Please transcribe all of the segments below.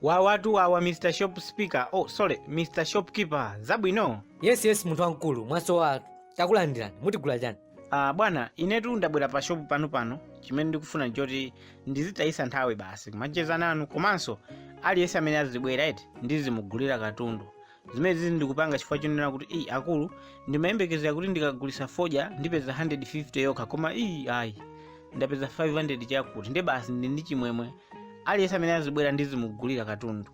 wawatu wawa mr shop speaker oh sorry mr shopkeeper zabwino yes yes munthu wamkulu mwasowatu takulandirani mutigula chani ah bwana inetu ndabwera pa shopu panu pano chimene ndikufuna ndichoti ndizitayisa nthawi basi kumacheza nanu komanso aliyense amene azibwera eti ndizimugulira katundu zimenezizi ndikupanga chifukwa chonena kuti iyi akulu ndimayembekezera kuti ndikagulisa fodya ndipeza 150 yokha koma iyi ayi ndapeza 500 chakuti nde basi ndi ndi chimwemwe aliyense amene azibwera ndizimugulira katundu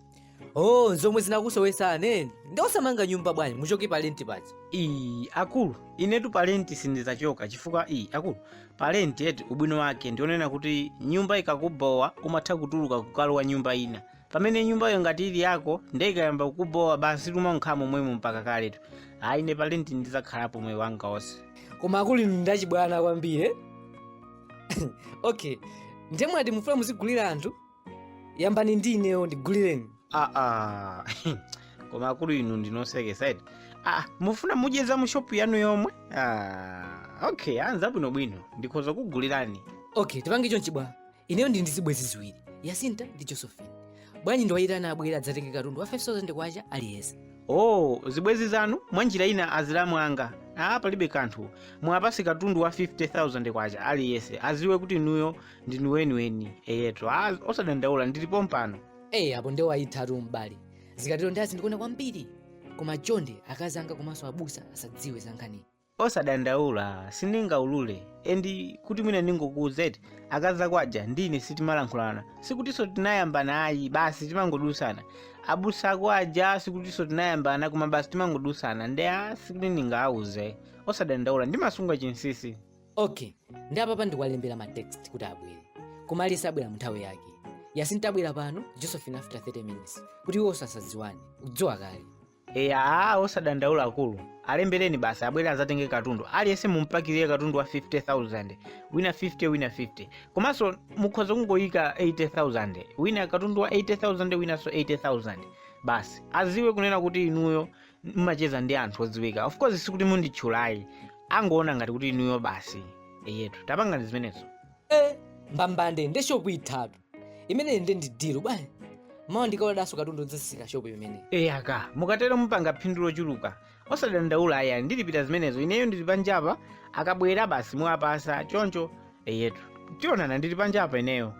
oh zomwe zinakusowesa ane nde osamanga nyumba bwanji muchoke pa lenti paja iyi akulu inetu palenti sindizachoka chifukwa iyi akulu palenti eti ubwino wake ndionena kuti nyumba ikakubowa umatha kutuluka kukalowa nyumba ina pamene nyumbayo ngati ili yako nde ikayamba kukubowa basi tumakhalamo momwemo mpaka kaletu ayi ne palenti ndizakhalapo moyo wanga wonse koma akulu inu ndachibwana kwambiri eh? okay nde mwati mufuna muzigulira anthu yambani ndi ineyo ndigulireni aa koma akulu inu ndinosekesa eti ah, mufuna mudye za mushopu yanu yomwe ah, okay ndiza bwinobwino ndikhoza kukugulirani okay tipange chonchi bwana ineyo ndili ndi zibwenzi ziwiri yasinta ndi josephine bwanji ndiwayitane abwere adzatenge katundu wa 5000 kwacha aliyense oh zibwenzi zanu mwa njira ina azilamu anga ah palibe kanthu muwapase katundu wa 50000 kwacha aliyense aziwe kuti inuyo ndinu weniweni eyetu ah, osadandaula ndili pompano eyi apo nde mwayithatu m'bale zikatero nde azindikonda kwambiri koma chonde akazi anga komanso abusa asadziwe za nkhaniyi osadandaula sindingaulule and kuti mwina ndingokuuze eti akazi ako aja ndine sitimalankhulana sikutinso tinayambana ayi basi timangodusana abusa ako aja sikutinso tinayambana koma basi timangodusana nde a sikuti ndingauze osadandaula ndimasunga chinsisi okay nde apapa ndikuwalembera ma text kuti abwere koma aliyense abwera munthawi yake yasinta abwera pano josephine after 30 minutes kuti iwo asadziwane udziwa kale eya aa osadandaula akulu alembereni basi abwere azatenge katundu aliyense mumpakirire katundu wa 50000 wina 50 wina 50 komanso mukhoza kungoyika 80000 wina katundu wa 80000 winanso 80000 basi aziwe kunena kuti inuyo mmacheza ndi anthu odziwika of course sikuti munditchule ayi angoona ngati kuti inuyo basi eyetu tapangani zimenezo e mbambande nde shopu ithatu imeneyi nde ndi deal bwana mawa ndikaodaso katundu ndizazisa shopu imeneyi eya mukatero mupanga phindu lochuluka osadandaula ayi ndilipira zimenezo ineyo ndili panjapa akabwera basi muwapasa choncho eyetu tionana ndili panjapa ineyo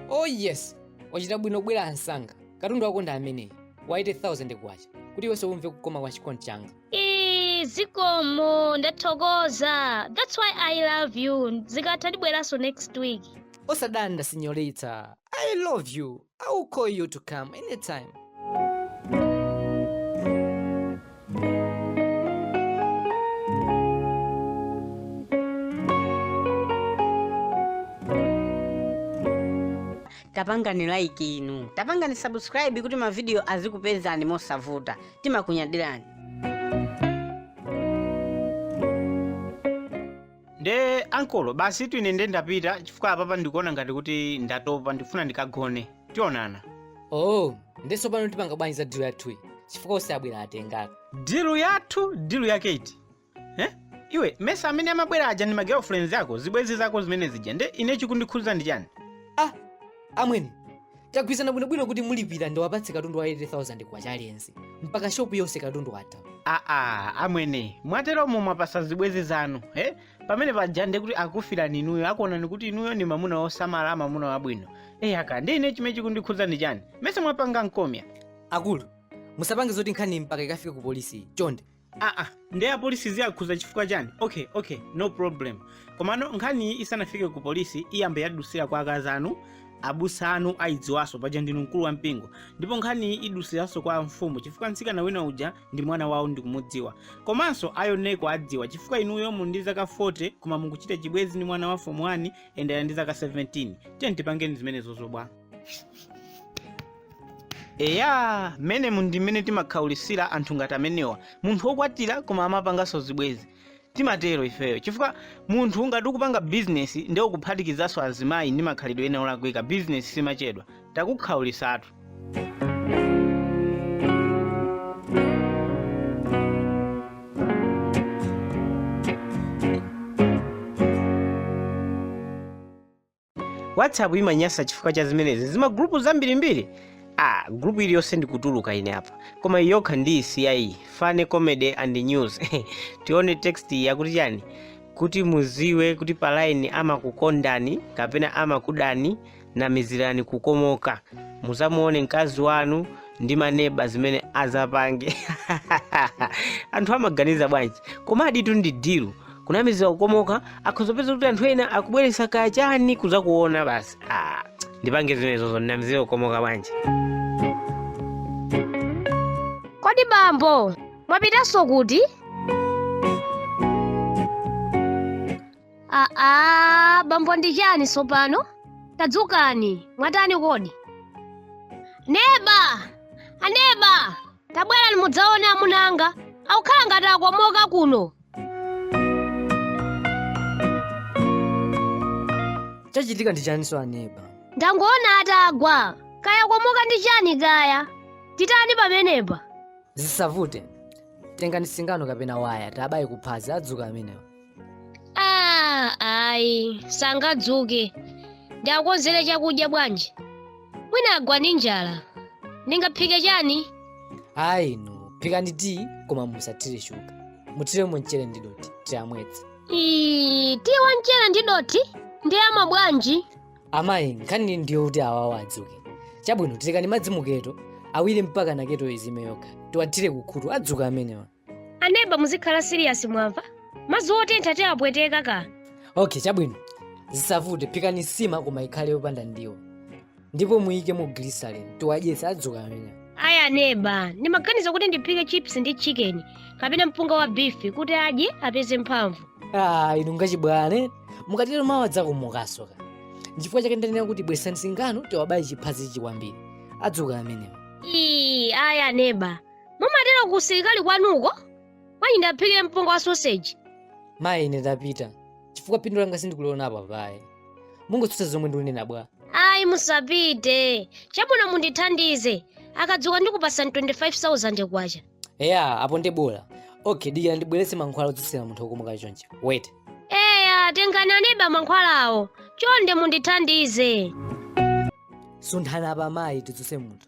oh yes wachita bwino kubwera msanga katundu wako ndi ameneyi wa 80000 kwacha kuti iwenso umve kukoma kwa chikondi changa Ee, zikomo ndathokoza that's why i love you zikatha ndibweranso next week osadanda sinyorita i love you i will call you to come anytime tapangani like inu tapangani subscribe kuti mavidiyo azikupezani mosavuta timakunyadirani nde ankolo basitu ine nde ndapita chifukwa apapa ndikuona ngati kuti ndatopa ndikufuna ndikagone tionana oh nde tsopano tipanga bwanji za dilu yathuyi chifukwa onse abwera atenga ka dilu yathu dilu yake iti eh? iwe mesa amene amabwera aja ndi magirlfriends ako zibwenzi zako zimene zija nde ine chikundikhudza ndi chani ah amwene tagwirizana bwinobwino kuti mulipira ndiwapatse katundu wa 80000 kwacha aliyense mpaka shopu yonse katundu watha aa amwene mwateromo mwapasa zibwenzi zanu eh? pamene paja nde kuti akufirani inuyo akuonani kuti inuyo ni mamuna wosamala mamuna wabwino eyi aka nde ine chimene chikundikhudza ndi chani mesa mwapanga nkhomya akulu musapange zoti nkhani mpaka ikafike ku polisi chonde aa nde apolisi ziwakhuza chifukwa chani okay okay no problem komano nkhaniyi isanafike ku polisi iyambe yadusira kwa akazi anu abusa anu ayidziwanso paja ndinu mkulu wa mpingo ndipo nkhaniyi idusiranso kwa mfumu chifukwa mtsikana wina uja ndi mwana wawo ndikumudziwa komanso ayoneko adziwa chifukwa inuyo muli ndi zaka 40 koma mukuchita chibwezi ndi mwana wa fomu 1 ende ali ndi zaka 17 tiye tipangeni zimenezo zobwa eya mmenemu ndi mmene timakhaulisira anthu ngati amenewa munthu wokwatira koma amapanganso zibwezi timatero ifeyo chifukwa munthu ngati ukupanga bizinesi nde ukuphatikizanso azimayi ndi makhalidwe ena olakwika bizinesi simachedwa takukhaulisatu whatsapp imanyasa chifukwa cha zimenezi zimagulupu zambirimbiri ah gulupu iliyonse ndikutuluka ine apa koma iyi yokha ndiyisiye funny comedy and news tione text iyi yakuti chani kuti muziwe kuti palaini amakukondani kapena amakudani namizirani kukomoka muzamuone mkazi wanu ndi maneba zimene azapange anthu amaganiza bwanji koma aditu ndi dilu kunamizira kukomoka akhoza kupeza kuti anthu ena akubweretsa kachani kuzakuona basi ah, ndipange zimenezozo ndinamizira kukomoka bwanji kodi bambo mwapitanso kuti aa bambo ndi chani tsopano tadzukani mwatani kodi neba aneba Tabwerani mudzaone amuna anga. Akukhala ngati akomoka kuno. Chachitika ndi chaninso aneba? Ndangoona atagwa. Kaya akomoka ndi chani kaya? Titani pamenepa? Zisavute. Tengani singano kapena waya tabaye kuphazi adzuka amenewa. Ah, ayi sangadzuke ndiakonzere chakudya bwanji mwina agwa ndi njala ndingaphike chani ayi inu phikani tiyi koma musathire shuga muthiremo mchere ndi dothi tiyamwetse Ii, tiyi wa mchere ndi dothi ndi ama bwanji amayi nkhani ndiyo kuti awawa adzuke chabwino terekani madzi muketo awiri mpaka ketoyo izime yokha tiwathire kukhutu adzuka amenewa aneba muzikhala siriyasi mwamva madzi otentha tiwapweteka ka okay chabwino zisavute phikani nsima koma ikhale yopanda ndiwo ndipo muyikemo glycerin tiwadyetse adzuka amenewa ayi aneba ndimaganiza kuti ndiphike chips ndi chicken kapena mpunga wa bifi kuti adye apeze mphamvu ah inu ngachibwana mukatero mawa adzakomokanso ka nchifukwa chake ndanena kuti bweretsani singano tiwabaye chiphazichi kwambiri adzuka amenewa ii ayi aneba mumatero ku usilikali kwanuko bwanji ndiaphikire mpunga wa soseji mayi ine ndapita chifukwa phindu langa sindikuliona apapa ayi mukungotsutsa zomwe ndikunena bwa ayi musapite chabwino mundithandize akadzuka ndikupasani 25000 kwacha eya apo ndi bola okay dikira ndibweretse mankhwala odzutsira munthu wokomoka chonchi wait eya tengani aneba mankhwalawo chonde mundithandize sunthani apa mayi tidzutse munthu